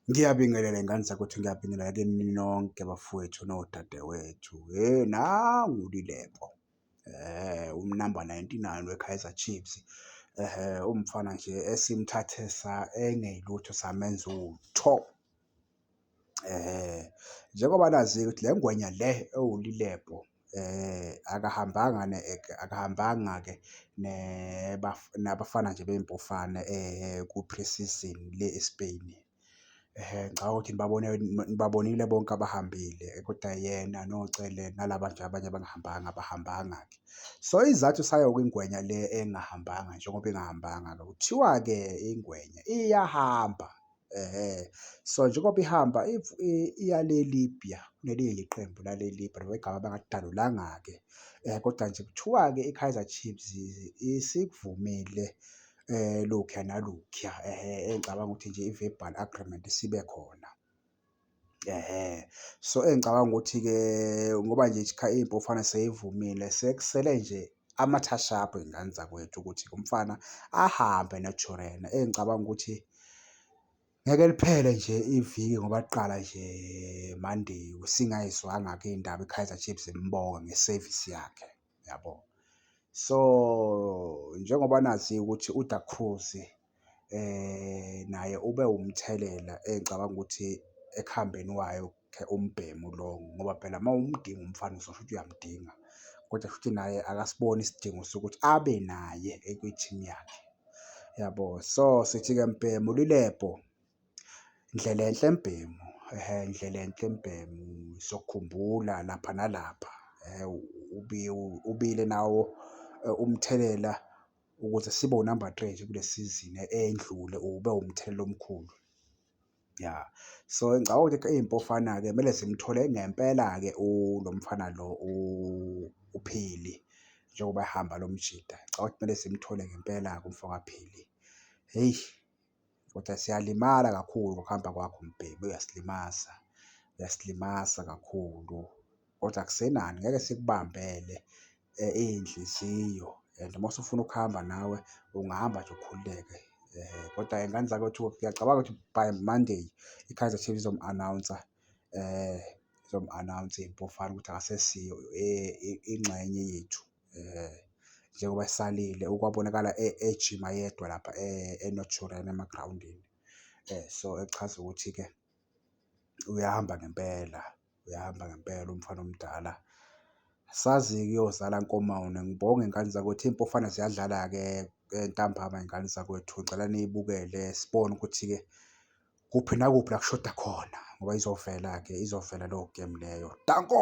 Ngiyabingelela y'ngane zakwethu, ngiyabingelela kini nonke bafowethu nodadewethu. Hheyi nangu uLilepo unumber ninety-nine weKaizer Chiefs umfana nje esimthathe sa engeyilutho samenza utho. Njengoba nazi-ke ukuthi le ngwenya le ewuLilepo Akahambanga akahambanga-ke nabafana nje bey'mpofana ku-pre-season le e-Spain. Ngicabanga ukuthi nibabone nibabonile bonke abahambile kodwa yena noCele nalaba nje abanye abangahambanga abahambanga-ke. So isizathu sayo ingwenya le engahambanga njengoba ingahambanga-ke kuthiwa-ke ingwenya iyahamba. Ehhe. So, njengoba ihamba if i- iya le Libya, kunelinye nje iqembu lale Libya noma igama bangalidalulanga-ke. Eh, kodwa nje kuthiwa-ke iKaizer Chiefs isikuvumile eh, lokhuya nalokhuya. Ehhe, engicabanga ukuthi nje i-verbal agreement isibe khona. Ehhe. So, engicabanga ukuthi-ke ngoba nje impofana seyivumile sekusele nje amathashabhu ey'ngane zakwethu ukuthi umfana ahambe noJorena. Engicabanga ukuthi ngeke liphele nje iviki ngoba kuqala nje Monday singayizwanga-ke iy'ndaba iKaizer Chiefs imbonga nge-service yakhe. yabo so njengoba nazi ukuthi uDa Cruz eh naye ube umthelela engicabanga ukuthi ekuhambeni wayo umbhemu lo ngoba phela uma umdinga umfana uzosho ukuthi uyamdinga kodwa futhi naye akasiboni isidingo sokuthi abe naye ekwi-team yakhe yabo so sithi-ke mbhemu lilebho. Ndlelenhle Mbhemu, ehe Ndlelenhle Mbhemu sokhumbula lapha nalapha ubile nawo umthelela ukuze sibe unamba three nje kule sizini eyendlule ube umthelela omkhulu. Ya, so engicabanga ukuthi iy'mpofana-ke kumele zimthole ngempela-ke lo mfana lo uPhili njengoba ehamba lo mjita. Ngicabanga ukuthi kumele zimthole ngempela-ke umfokaPhili. Hheyi, Kodwa siyalimala kakhulu ngokuhamba kwakho mbhemu uyasilimaza, uyasilimaza kakhulu kodwa akusenani ngeke sikubambele iy'nhliziyo and uma usufuna ukuhamba nawe ungahamba nje ukhululeke. Kodwa ingane zakwethu ngiyacabanga ukuthi by Monday i-Kaizer Chiefs izomu-anawunsa izomu-anawunsa iMpofana ukuthi akasesiyo ingxenye yethu. um njengoba esalile okwabonakala ejima yedwa lapha e-Northurian emagrawundini um so echaza ukuthi-ke uyahamba ngempela uyahamba ngempela umfana omdala. Sazi-ke uyozala nkomawona ngibonge ngane zakwethu iy'mpofana ziyadlala-ke ntambama y'ngane zakwethu ngicela niyibukele sibone ukuthi-ke kuphi nakuphi la kushoda khona ngoba izovela-ke izovela leyo game leyo danko